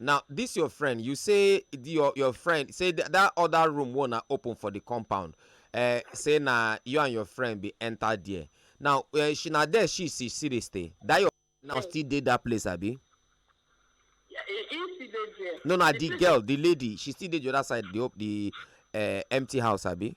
Now this your friend, you say your your friend say that, that other room wanna open for the compound. Uh, say na you and your friend be enter there. Now uh, she na there she see see dey stay. That your now still dey that place abi. Yeah, he, he still dey there. No na the, the girl the lady she still dey the other side the the uh, empty house abi.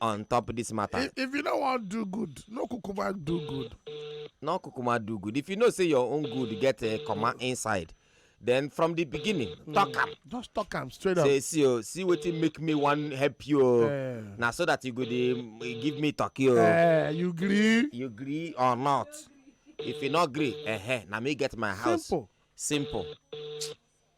on top of this matter. If, if you don't want do good, no kukuma do good. No kukuma do good. If you know say your own good get a comma inside, then from the beginning mm. talk am just talk am straight up say see o oh, see wetin make me wan help you o oh. eh. na so that you go dey mm, give me turkey o oh. eh, you gree you gree or not if you no gree eh, eh na me get my house simple simple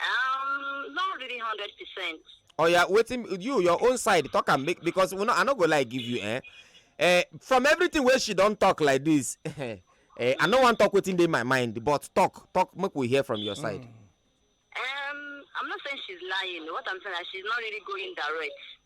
Um, not really hundred percent. Oh yeah, waiting you your own side talk and make because we no, I no go like give you eh. Uh, from everything where she don't talk like this, uh, I no want talk within my mind, but talk, talk, make we hear from your side. Mm. Um, I'm not saying she's lying. What I'm saying is she's not really going direct.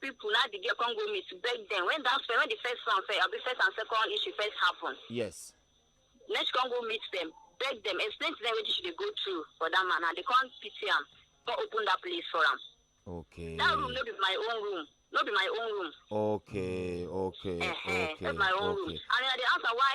people now the girl come go meet beg them when that when the first one first abi first and second issue first happen yes then she come go meet them beg them explain to them wetin she dey go through for that man and they come pity am come open that place for am okay that room no be my own room no be my own room okay okay uh-huh, okay that's my own okay room and i dey ask her why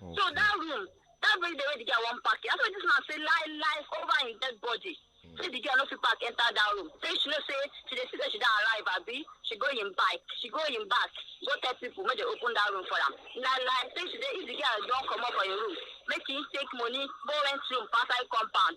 Okay. So that room, that very day wey the girl wan pack it, after this man say lie lie over him dead body. Mm. Say the girl no fit pack enter that room. Say she know say she dey see say she don arrive abi she go him bike, she go him back, go tell people make they open that room for am. Lie lie say she dey if the girl don comot for him room, make him take money go rent room for outside compound.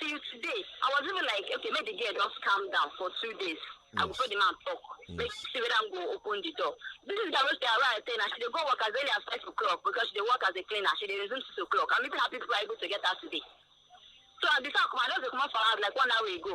till today i was even like okay make the girl just calm down for two days yes. i go follow the man talk yes. make see whether i'm go open the door this is the way they arrive ten and she dey go work as early as five o'clock because she dey work as a cleaner she dey resume six o'clock i'm even happy people are able to get her today so i before i come i just dey comot for house like one hour ago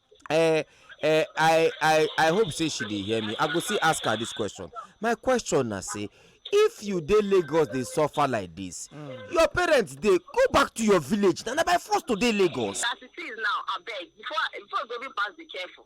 Eh, eh, I, I, I hope say she dey hear me. I go still ask her this question. My question na say, if you dey Lagos dey suffer like this, mm. your parents dey go back to your village. Na by force to dey Lagos. As it is now, abeg, before before you go even pass, be careful.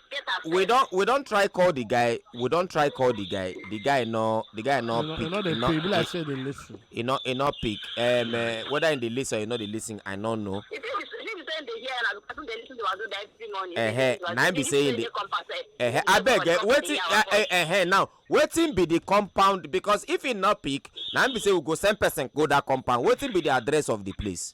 get upset. we don we don try call the guy we don try call the guy the guy no the guy no pick no dey pay be like say dey lis ten e no e no pick um, uh, whether he dey lis ten or he no dey lis ten i no know. e fit be him say dey hear na person dey lis ten to wazo dey every morning. Uh-huh. na him be say he dey uh-huh. abeg eh, wetin uh, eh, uh, eh, uh, now wetin be the compound because if he no pick na him be say we go send person go that compound wetin be the address of the place.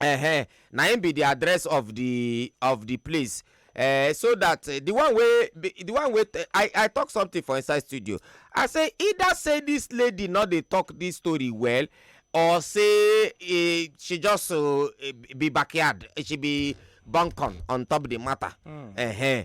uh-huh. na im be the address of the of the place uh, so that uh, the one wey the one wey i i talk something for inside studio i say either say this lady no dey talk this story well or say uh, she just uh, be backyard she be buncon on top the matter mm. uh-huh.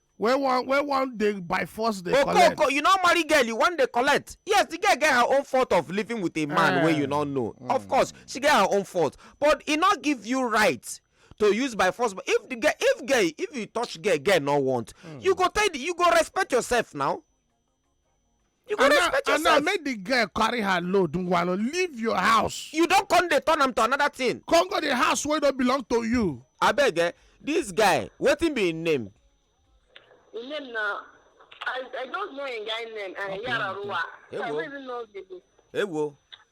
wey wan wey wan dey by force dey collect okoko you no marry girl you wan dey collect yes the girl get her own fault of living with a man wey you no know of course she get her own fault but e no give you right to use by force but if the girl if girl if you touch girl girl no want you go tell the you go respect yourself now you go and now respect and now yourself make the girl carry her load nwalo leave your house you don come dey turn am to another thing come go the house wey no belong to you abeg eh this guy wetin be him name His name na I I just know him guy name. Uh, Yararuwa. So I Ewo. don't even know the ewo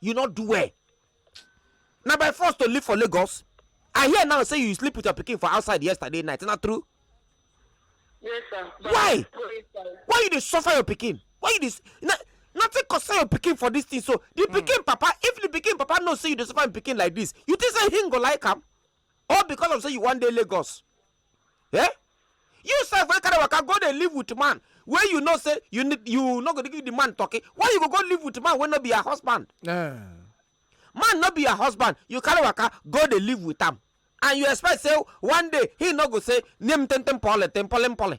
you no do well na by force to live for lagos i hear now say you sleep with your pikin for outside yesterday night na true yes sir why why you dey suffer your pikin why you dey na nothing concern your pikin for this thing so the hmm. pikin papa if the pikin papa know say you dey suffer him pikin like this you think say him go like am all because of say you wan dey lagos eh you sef wey carry waka go dey live with man wey you know say you need you no go dey give the man turkey why you go go live with man wey no be your husband Eh. man no be your husband you carry waka go dey live with am and you expect say one day he no go say nem tentem pole tempole pole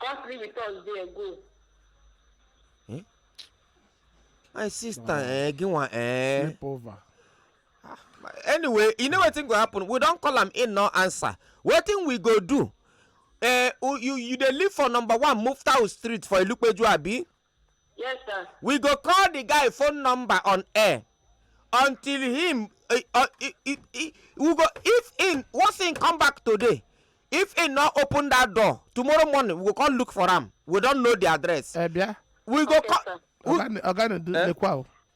Come sleep with us there, go. Hmm? My sister, wow. eh, give one, eh. Sleep over. Ah, anyway, you know what thing go happen? We don't call him in, no answer. What thing we go do? Eh, you you dey live for number one Muftau Street for Ilupeju, abi? Yes, sir. we go call the guy phone number on air until him uh, uh, i- i- i- we go if him once him come back today if him no open that door tomorrow morning we go come look for am we don know the address ẹ bịa we go Okay, come sir. ọga na-edu lekwa o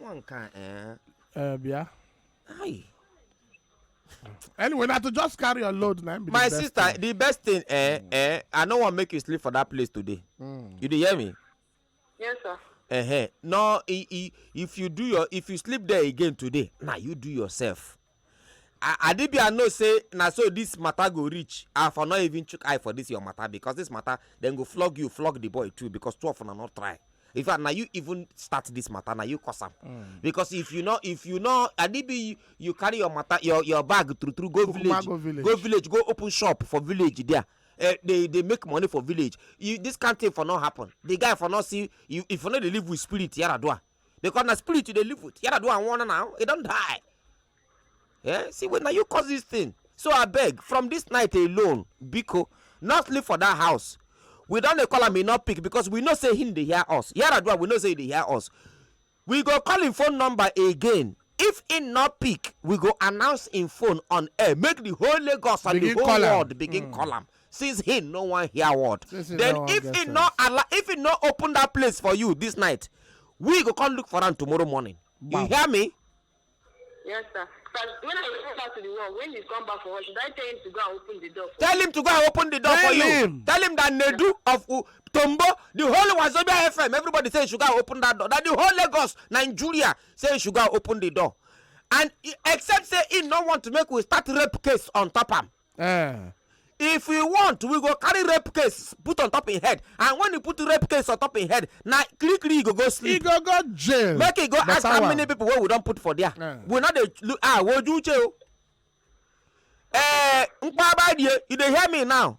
One can eh. Uh, yeah. Aye. anyway na to just carry your load na be my sister thing. the best thing eh mm. eh i no wan make you sleep for that place today mm. you dey hear me. yes sir. Uh -huh. no i i if you do your if you sleep there again today na you do yourself. Adi Bia know say na so this matter go reach, I for no even chook eye for this your matter because this matter dem go flog you, flog the boy too because two of una no try. In fact, na you even start this matter, na you cause am. Mm. Because if you no, if you no, Adi Bia you, you carry your matter, your your bag through through go village, go village, go village, go open shop for village there. Uh, they they make money for village. You, this kind thing for not happen. The guy for not see you if you know they live with spirit Yaradua. because na spirit you dey live with yara do am one now e don die yeah see when na you cause this thing so I beg from this night alone biko not live for that house we don dey call am e no pick because we know say him dey hear us yaradua we know say he dey hear us we go call him phone number again If im no pick, we go announce im phone on air make di whole Lagos and di whole world begin hmm. call am since he no wan hear word then if he no allow if he no open that place for you this night we go come look for am tomorrow morning you hear me. yes sir because when i go back to the world when he come back for work should i tell him to go and open the door. tell him to go and open the door tell for him. you tell him that nedu of uh, tombo the whole wazobia fm everybody say you should go and open that door that the whole lagos nigeria say you should go open the door and except say he no want make we start rape case on top am eh. if we want we go carry rape case put on top him head and when you put rape case on top him head na kiri kiri he go go sleep. he go go jail. make he go ask how many people wey we don put for there. Yeah. we no dey look ah woju uche o. Oh. Eh, nkpa abadie you dey hear me now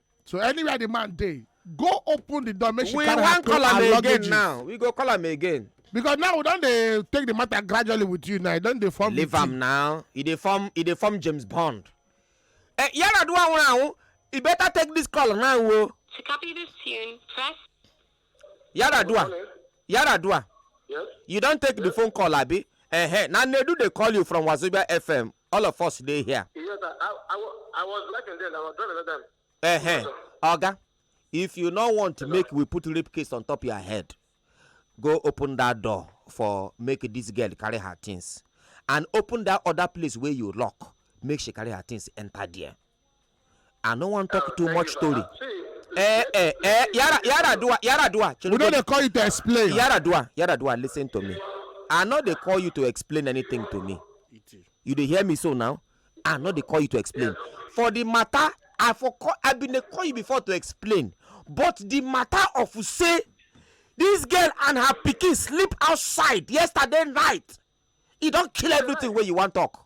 so anywhere the man dey go open the door make she carry her clothes and luggage now we go call am again because now we don dey take the matter gradually with you now e don dey form leave am now e dey form e dey form james bond eh yaradua nwere anwụ e better take this call now o. Oh. to copy this tune press. yaradua yaradua yes? you don take yes? the phone call abi uh -huh. na nnedu dey call you from wazobia fm all of us dey here Yes, sir. I, I, wa- I was working then. I was driving that time. Ehe. Oga, if you no want to make we put rape case on top your head, go open that door for make this girl carry her things and open that other place where you lock. Make she carry her things enter there. i no wan talk too much story eh eh eh yara yara dua yara dua we no dey call you to explain yara dua yara dua listen to me i no dey call you to explain anything to me you dey hear me so now i no dey call you to explain for the matter i for call i bin dey call you before to explain but the matter of say this girl and her pikin sleep outside yesterday night e don kill everything wey you wan talk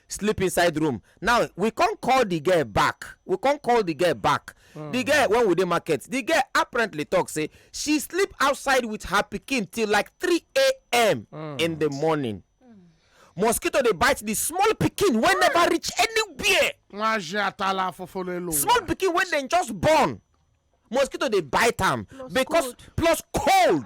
sleep inside room now we come call the girl back we come call the girl back the hmm. girl when we dey market the girl apparently talk say she sleep outside with her pikin till like 3 a.m hmm. in the morning mosquito dey bite the small pikin wey never reach anywhere small pikin wey dem just born mosquito dey bite am because plus cold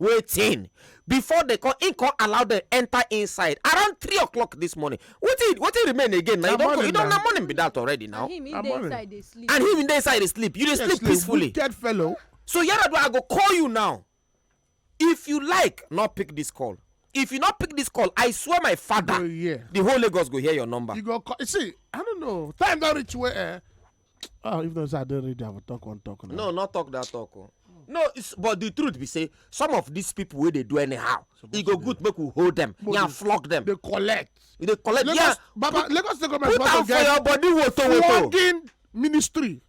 wetin before dem come im come allow dem enter inside around three o'clock this morning wetin wetin remain again na you don you don na morning be that already now and him dey inside dey sleep and him dey inside dey sleep you dey sleep peacefully wicked fellow so yaradua i go call you now if you like no pick this call if you no pick this call i swear my father oh, the whole lagos go hear your number you go call see i don't know time don reach where eh, oh if not say i don read i go talk one talk now. no not talk that talk o oh. no but the truth be say some of these people wey dey do anyhow e go good make we hold them yan flog them. dey collect. e dey collect yan baba lagos state government wan to get put am for your body woto woto. flogging ministry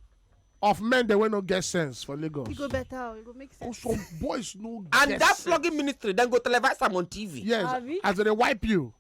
of men dem wey no get sense for lagos. e go better o oh, e go make sense. some boys no get sense. and that flogging ministry dem go televise am on tv. yes as dem dey wipe you.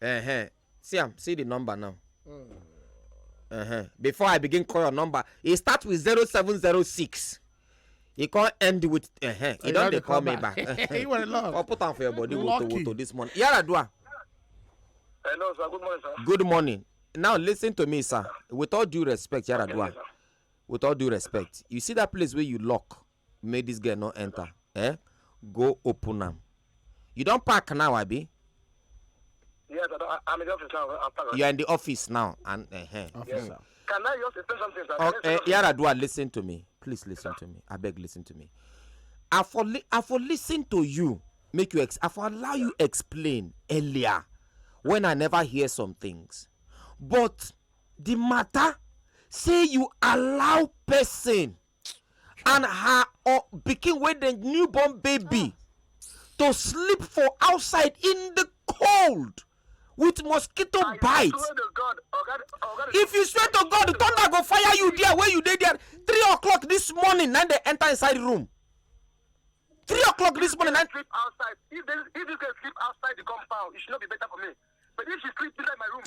Uh-huh. See am, see the number now. Mm. Uh-huh. Before I begin call your number, e start with zero seven zero six. e come end with uh-huh. e don dey call me back. you were in love. come put am for your body woto woto this morning. yaradua. hello sir good morning sir. good morning now listen to me sir with all due respect yaradua with all due respect you see that place wey you lock make this girl no enter eh go open am you don pack now abi. Yes, I, I'm in the office now. I'm packed. You are in the office now, and uh, uh, officer. Yes. Can I just explain something? Sir? Oh, uh, Yaradua, listen to me. Please listen to me. I beg, listen to me. I for li- I for listen to you. Make you ex- I for allow you explain earlier when I never hear some things. But the matter say you allow person and her or pikin wey dem new born baby to sleep for outside in the cold with mosquito I bite swear to God, Oga, Oga, if you swear to god thunder go fire you there wey you dey there three o'clock this morning na dey enter inside room three o'clock this morning na sleep outside. If, they, if this girl sleep outside the compound, it should not be better for me. But if she sleep inside my room,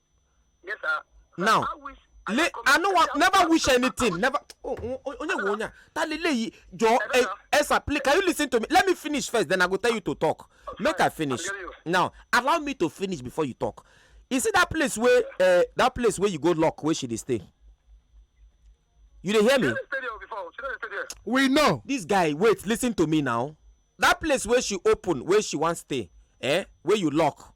Yes, sir. Now, I wish le i no wan never wish anything never oh, oh, oh, onye wo onya ta le leyi jọ eh, esa please can you listen to me let me finish first then i go tell you to talk make i finish now allow me to finish before you talk you see that place wey uh, that place wey you go lock wey she dey stay you dey hear me we know this guy wait listen to me now that place wey she open wey she wan stay eh wey you lock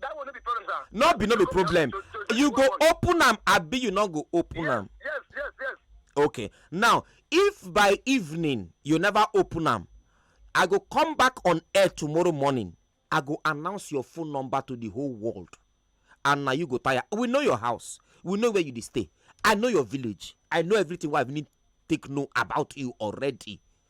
That will not be problem, sir. no be no be problem To- to- to- you go to- open am abi you no go open Yes, am yes, yes, yes. okay now if by evening you never open am i go come back on air tomorrow morning i go announce your phone number to the whole world and na you go tire we know your house we know where you dey stay i know your village i know everything wey i need take know about you already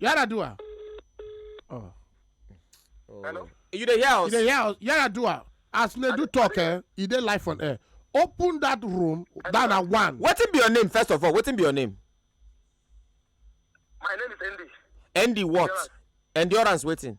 Yaradua. Oh. oh. Hello? You dey hear us? You dey hear us? Yaradua. As Nedu talk, eh, he dey live on air. Open that room, down at one. Wetin be your name, first of all? Wetin be your name? My name is Andy. Andy what? Endurance, Endurance waiting.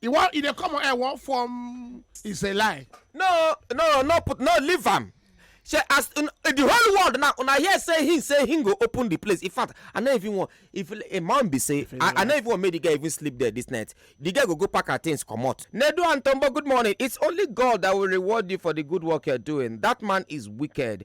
He wan he dey come on air one form is a lie. no no no put no leave am shey as un, the whole world now una hear say him say him go open the place in fact i no even wan if a man be say i i no even wan make the girl even sleep there this night the girl go go pack her things comot. nedu and tombo good morning it's only god that will reward you for the good work you're doing that man is wicked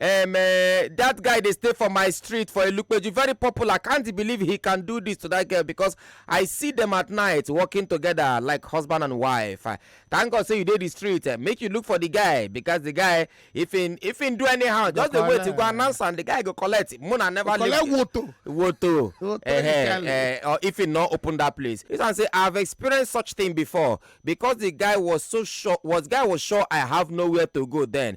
um, uh, that guy they stay for my street for a look but you very popular can't believe he can do this to that girl because i see them at night walking together like husband and wife uh, thank god say you did the street uh, make you look for the guy because the guy if in if he do anyhow just the way to go announce and the guy go collect mona never collect woto woto uh, uh, or if he not open that place he can say i've experienced such thing before because the guy was so sure was guy was sure i have nowhere to go then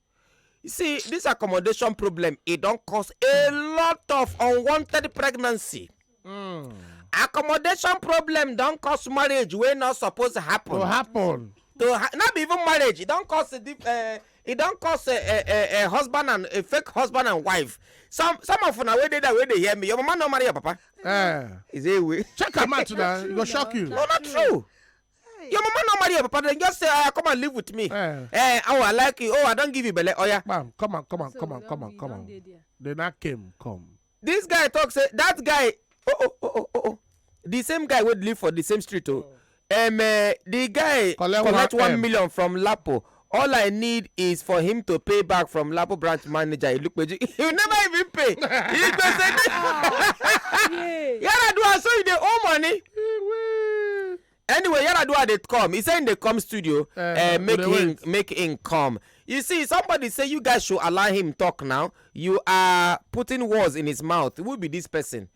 You see, this accommodation problem, it don't cause a lot of unwanted pregnancy. Mm. Accommodation problem don't cause marriage wey not supposed to happen. To happen. To ha not even marriage, it don't cause a deep, uh, it don't cause a, a, a, a husband and a fake husband and wife. Some some of una wey dey there wey dey hear me, your mama no marry your papa. Uh, Is it way? Check am out now, e go shock you. No, not true. Hey. Your mama no marry your papa, then just say, oh, come and live with me. Eh. Eh, oh, I like you. Oh, I don't give you belly. Oh, yeah. Bam, come on, come on, so come on, come on, come on. Then I came, come. This guy talks, say, that guy, oh, oh, oh, oh, oh, oh. The same guy would live for the same street, oh. oh. Um, uh, the guy collect, collect one, one million from Lapo All I need is for him to pay back from Lapo branch manager Ilupeju. He will never even pay. He go say this. Yaradua, so you dey owe money. Anyway, Yaradua dey come. He say him dey come studio, Eh, uh, we make dey him wait. make him come. You see, somebody say you guys should allow him talk now. You are putting words in his mouth. Who be this person?